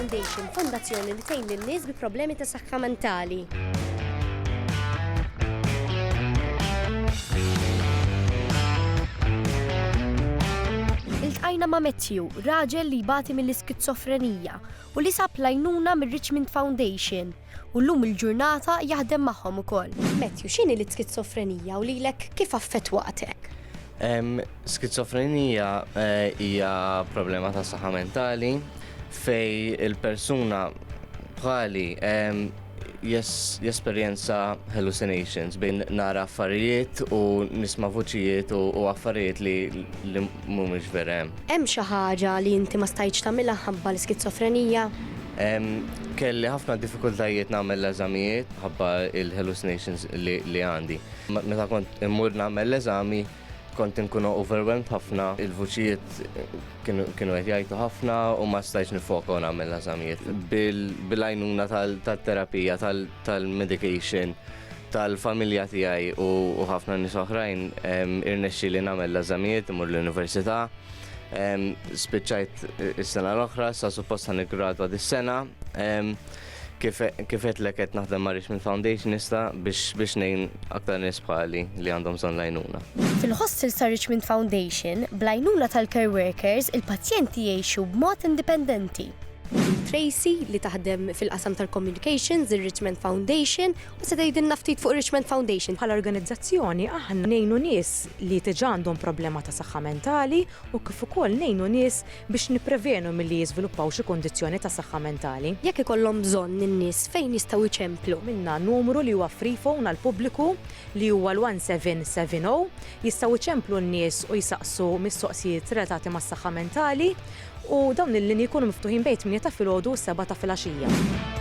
Foundation, fondazzjoni li tgħin lin-nies bi problemi ta' saħħa mentali. Iltqajna ma' Matthew, raġel li jbati mill-iskizofrenija u li sab lajnuna mir-Richmond Foundation. u llum il-ġurnata jaħdem magħhom ukoll. Matthew, x'inhi l-iskizofrenija u lilek kif affettwatek? Skizofrenija eh, hija problema ta' saħħa mentali fej il-persuna bħali jesperjenza hallucinations bejn nara affarijiet u nisma' vuċijiet u affarijiet li mhumiex vera hemm. Hemm xi ħaġa li inti ma stajtx tagħmilha mħabba l-iskizofrenija? Kelli ħafna diffikultajiet nagħmel l-eżamijiet mħabba l-hallucinations li għandi. Meta kont immur nagħmel l-eżami kont inkun overwhelmed ħafna, il-vuċijiet kienu qed jgħajtu ħafna u ma stajtx niffoka u nagħmel l-eżamijiet. Bil-għajnuna tat-terapija, tal-medication, tal-familja tiegħi u ħafna nies oħrajn irnexxi li nagħmel l-eżamijiet imur l-università. Spiċċajt eh, is-sena l-oħra, sa suppost ħan iggradwa dis-sena. Kif qed lek qed naħdem ma' Richmond Foundation issa biex biex ngħin aktar nies bħali li għandhom bżonn lajnuna. Fil-hostel sa' Richmond Foundation, blajnuna tal-care workers, il-pazjenti jgħixu b'mod indipendenti. Tracy li taħdem fil-qasam tal-communications, ir-Richmond Foundation, u se tgħidilna ftit fuq ir-Richmond Foundation. Bħala organizzazzjoni aħna ngħinu nies li diġà għandhom problema ta' saħħa mentali u kif ukoll ngħinu nies biex nipprevenu milli jiżviluppaw xi kundizzjoni ta' saħħa mentali. Jekk ikollhom bżonn in-nies fejn jistgħu jċemplu? Għamilna numru li huwa free phone għall-pubbliku li huwa l-1770. Jistgħu jċemplu n-nies u jsaqsu mistoqsijiet relatati mas-saħħa mentali u dawn il-linji jkunu miftuħin bejn it-tmienja ta' filgħodu u s-sebgħa ta' filgħaxija.